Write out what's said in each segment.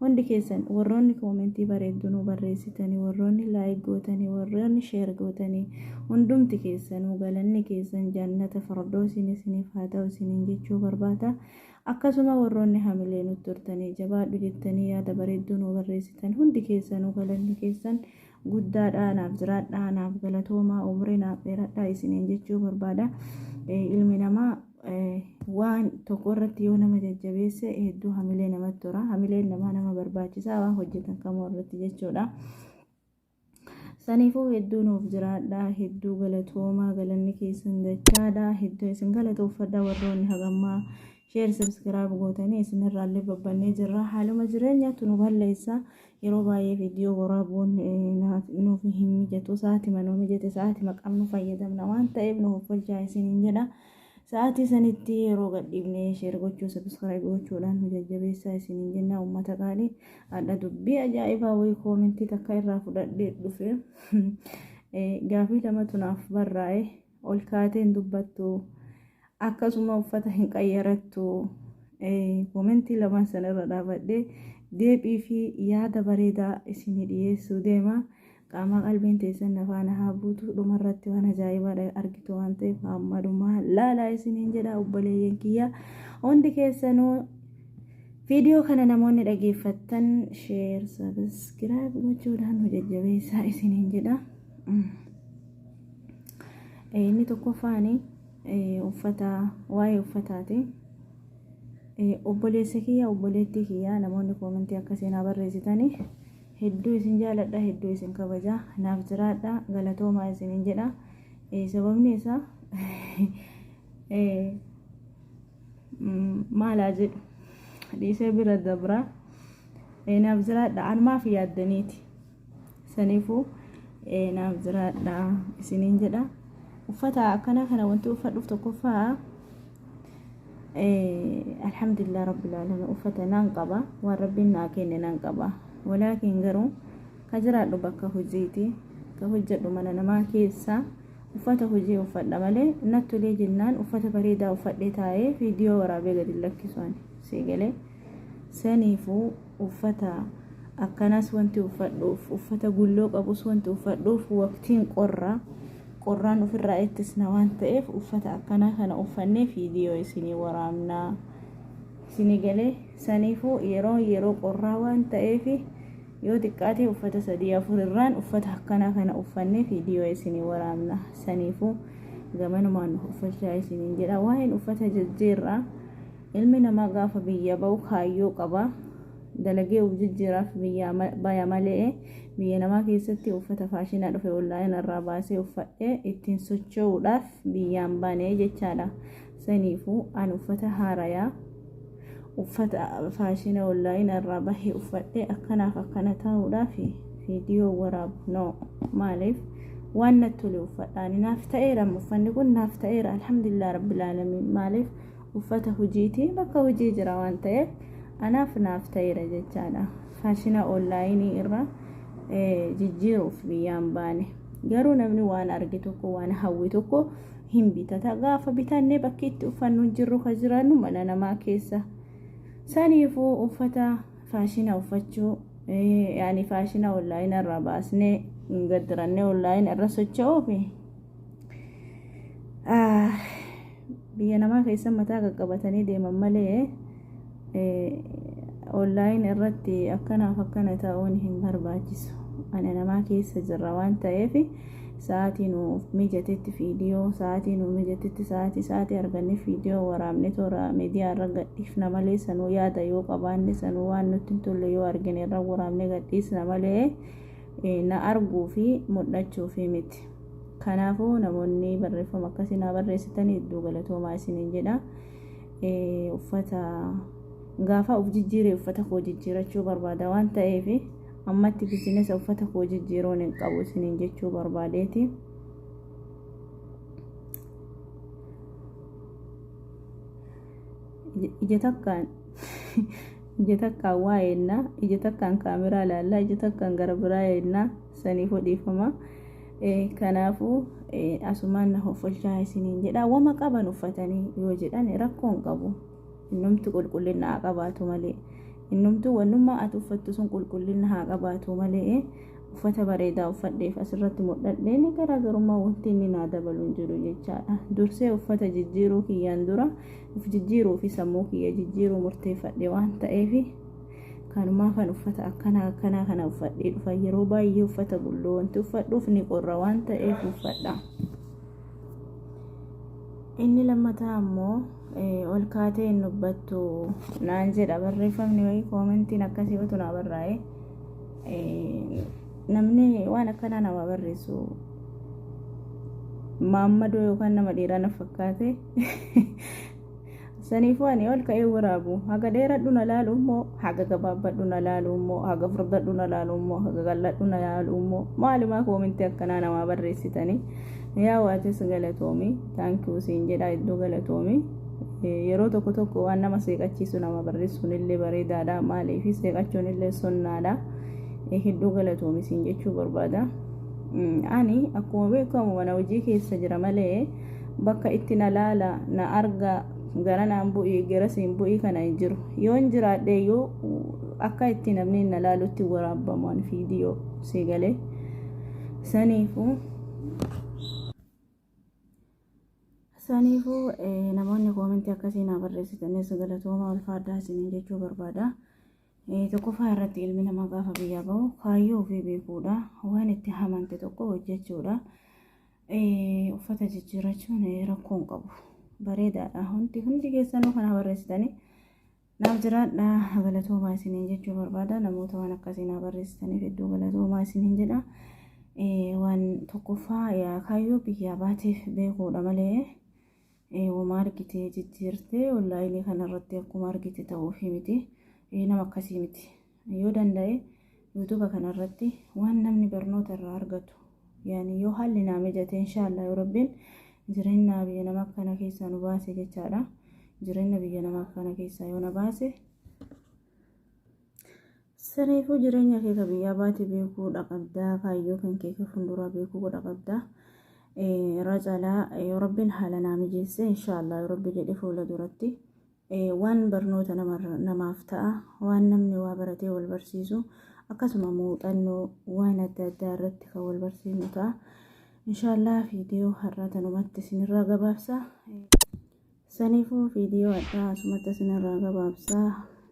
Hundi keessan warroonni koomentii bareeddu nuu barreessitani warroonni like gootani warroonni share gootani hundumti keessanuu galanni keessan jannata fardoosiin isiniif haa ta'u isiniin jechuu barbaada akkasuma warroonni hamilee nutti hortanii jabaadhu jettanii yaada bareedduu nuu barreessitan hundi keessanuu galanni keessan guddaadhaa naaf jiraadhaa naaf galatoomaa umrii naaf dheeradhaa isiniin jechuu barbaada ilmi namaa waan tokko irratti yoo nama jajjabeesse hedduu hamilee namatti tora hamileen namaa nama barbaachisaa waan hojjetan kamuu irratti jechuudha saniifuu hedduu nuuf jiraadha hedduu galatoomaa galanni keessan dachaadha hedduu isin galatooffadha warroonni hagammaa sheer sabskiraab gootanii isinirraallee babbannee jirra haaluma jireenyaatu nu balleessa Yeroo baay'ee viidiyoo waraabuun nuuf hin mijatu. Sa'aatima nuu mijate sa'aatima qabnu fayyadamna waan ta'eef nu hoffolchaa isiniin jedha. Sa'aatii sanitti yeroo gadhiifne sheer gochuu sabiskiraayib gochuudhaan nu jajjabeessaa isiniin jenna uummata qaalii. Hadha dubbii ajaa'ibaa wayii koomentii takka irraa fudhadhee dhufe. Gaafii lamatu naaf barraa'e. Ol kaatee hin dubbattu. Akkasuma uffata hin qayyarattu. Komentii lamaan sana irra dhaabadhee deebii fi yaada bareedaa isinii dhiyeessuu deema. Qaamaa qalbiin teessan na faana haa buutu. Dhuma irratti waan ajaa'ibaa argitu waan ta'eef hamma dhumaa laalaa isiniin jedha obboleeyyan kiyya. Hundi keessanuu viidiyoo kana namoonni dhageeffattan sheer sabiskiraayib gochuudhaan nu jajjabeessaa isiniin jedha. Inni tokkoffaan uffata waa'ee uffataati. Obboleessa kiyya obboleettii kiyya namoonni koomentii akka seenaa barreessitan hedduu isin jaaladha hedduu isin kabaja naaf jiraadha galatoomaa isinin jedha sababni isaa maalaa jedhu dhiisee bira dabra naaf jiraadha an maaf yaaddaniiti. saniifuu eh, naaf jiraadha isiniin jedha uffata akkanaa kana wanti uffadhuuf tokkoffaa eh, alhamdulillah rabbil alamin uffata nan qaba waan rabbiin naa kenne nan qaba walaakiin garuu ka jiraadhu bakka hojiiti ka hojjedhu mana namaa keessa uffata hojii uffadha malee nattulee jennaan uffata bareedaa uffadhee taa'ee viidiyoo waraabee gadi lakkisu ani sii galee Saniifuu uffata akkanaas wanti uffadhuuf, uffata gulloo qabus wanti uffadhuuf waqtiin qorra. Qorraan ofirraa ittisna waan ta'eef uffata akkanaa kana uffannee viidiyoo isinii waraabna. Isinii galee saniifuu yeroo yeroo qorraa waan ta'eef yoo xiqqaatee uffata sadii afur irraan uffata akkanaa kana uffannee viidiyoo isinii waraabna. Saniifuu gamanumaan uffachaa isiniin jedha. Waa'een uffata jijjiirraa Ilmi namaa gaafa biyyaa ba'u kaayyoo qaba. Dalagee uf jijjiiraaf biyyaa baya male'e biyya namaa keessatti uffata faashinaa dhufe onlaayina irraa baasee uffadhee ittiin socho'uudhaaf biyyaan bane jechaadha. Saniifuu an uffata haarayaa uffata faashina onlaayina irraa bahee uffadhee akkanaaf akkana ta'uudhaaf viidiyoo waraabu no maaliif waan natti tole uffadhaani naaf ta'eera uffanni kun naaf ta'eera alhamdulillah rabbil aalamiin maaliif uffata hojiitii bakka hojii jira waan ta'eef anaaf naaf ta'eera jechaadha faashina oonlaayinii irra jijjiiruuf biyyaan baane garuu namni waan arge tokko waan hawwe tokko hin bitata gaafa bitannee bakki itti uffannu hin jirru ka jiraannu mana namaa keessa saniifuu uffata faashina uffachuu yaani faashina oonlaayina irraa baasnee gaddirannee oonlaayina irra socho'uufi biyya namaa keessa mataa qaqqabatanii deeman malee onlaayin irratti akkanaaf akkana ta'uun hin barbaachisu ana namaa keessa jirra waan ta'eef sa'aatii nuuf mijatetti viidiyoo sa'aatii nuuf mijatetti sa'aatii sa'aatii arganne viidiyoo waraabne toora miidiyaa irra gadhiifna malee sanuu yaada yoo qabaanne sanuu waan nutti hin tolle yoo argine irra waraabne gadhiisna malee na arguu fi mul'achuu fi miti. Kanaafuu namoonni barreeffama akkasii naa barreessitan hedduu galatoomaa isiniin jedha. Uffata gaafa of jijjiire uffata koo jijjiirachuu barbaada waan ta'eef ammatti bisinesa uffata koo jijjiiruun hin qabu isiniin jechuu barbaadeeti. Ija takkaan Ija takkaan waa eeyna, ija takkaan kaameraa ilaalla, ija takkaan gara biraa eeyna, saniifuu dhiifama. Kanaafuu asumaan na hoffolchaa isiniin jedha. Wama qaban uffatanii yoo jedhan rakkoo hin qabu. Innumtu qulqullina haa qabaatu malee. Innumtu wannummaa ati uffattu sun qulqullina haa qabaatu malee. uffata bareedaa uffadheef asirratti mul'adheen garaagarummaa wanti inni naa dabalu hin jiru jechaadha. Dursee uffata jijjiiruu kiyyaan dura of jijjiiruu fi sammuu kiyya jijjiiruu murteeffadhe waan ta'eef kanumaafan uffata akkanaa akkanaa kana uffadhee dhufa yeroo baay'ee uffata bulloo wanti uffadhuuf ni qorra waan ta'eef uffadha. Inni lammataa ammoo ol kaatee hin dubbattu naan jedha barreeffamni wayii koomentiin akkasii utuu naa barraa'ee. Namni waan akkanaa nama barreessu maammadoo yookaan nama dhiiraa na fakkaate. Saniifuu ani ol ka'ee waraabu. Haga dheeradhu na laalu immoo haga gabaabbadhu na laalu immoo haga furdadhu na laalu immoo haga qal'adhu na laalu immoo maalumaa koominti akkanaa namaa barreessitanii. Yaa waatis galatoomi taankiyuu siin jedhaa iddoo galatoomi yeroo tokko tokko waan nama seeqachiisu nama barreessuun illee bareedaadha maaliif seeqachuun illee sonnaadha hedduu galatoomi siin jechuu barbaada ani akkuma beekamu mana hojii keessa jira malee bakka itti na laala na arga gara naan bu'ii gara siin bu'ii kana hin jiru yoon jiraadhe yoo akka itti namni na laalutti waraabaman viidiyoo seegalee saniifuu. Saniifuu namoonni koomentii akkasii naa barreessitanis galatooma ulfaadhaa isiniin jechuu barbaada. Tokkoffaa irratti ilmi namaa gaafa biyyaa bahu kaayyoo ofii beekuudha. Waan itti hamante tokko hojjechuudha. Uffata jijjiirrachuun rakkoo hin qabu. Bareedaadha. Hundi hundi keessanuu kana barreessitanii Naaf jiraadhaa galatoomaa isiniin jechuu barbaada namoota waan akkasii naa barreessitaniif hedduu galatoomaa isiniin jedha waan tokkoffaa kaayyoo biyyaa baateef beekuudha malee wama argitee jijjiirtee onlaayinii kanarratti akkuma argite ta'uufii miti nama akkasii miti. Yoo danda'e yuutuuba kana irratti waan namni barnoota irraa argatu yaani yoo haalli naa mijate inshaallah yoo rabbiin jireenya biyya nama akkana keessaa nu baase jechaadha jireenya biyya nama akkana keessaa yoo na baase saniifuu jireenya kee ka biyyaa baate beekuu dhaqabdaa kaayyoo kan kee ka funduraa beekuu godha qabdaa irraa caalaa yoo rabbiin haala naa mijeesse inshaallah yoo rabbi jedhe fuula duratti Waan barnoota namaaf ta'a, waan namni waa baratee wal barsiisu, akkasuma muuxannoo waan adda addaa irratti kan wal barsiifnu ta'a. Inshaallah viidiyoo har'aa tanumatti isinirraa gabaabsa. Saniifuu viidiyoo addaa asumatti isinirraa gabaabsa.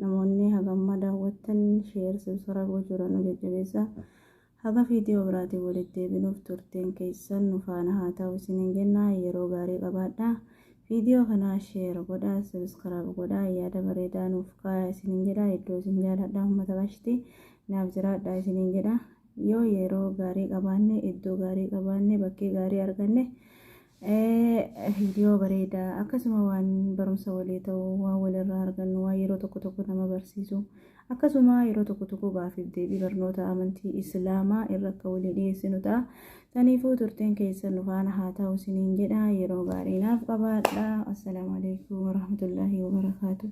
Namoonni hagamma daawwattan sheer sibsara gochuudhaan nu jajjabeessa. Haga viidiyoo biraatiin walitti deebinuuf turtiin keessan nu faana haa ta'u isiniin jenna. Yeroo gaarii qabaadhaa. Viidiyoo kana share godhaa, subscribe godhaa, yaada bareedaa nuuf kaayaa isiniin jedha. Hedduu isin jaaladha uummata qashti. Naaf jiraadhaa isiniin jedha. Yoo yeroo gaarii qabaanne, iddoo gaarii qabaanne, bakkee gaarii arganne Viidiyoo bareeda akkasuma waan barumsa walii ta'u waan walirraa argannu waan yeroo tokko tokko nama barsiisu akkasuma yeroo tokko tokko gaafiif deebii barnoota amantii islaamaa irra akka walii dhiyeessinu ta'a. Taniifuu turteen keessan nu faana haa ta'u isiniin jedha yeroo gaarii naaf qabaadha. Assalaamu alaikum warahmatullaahi wabarakaatuh.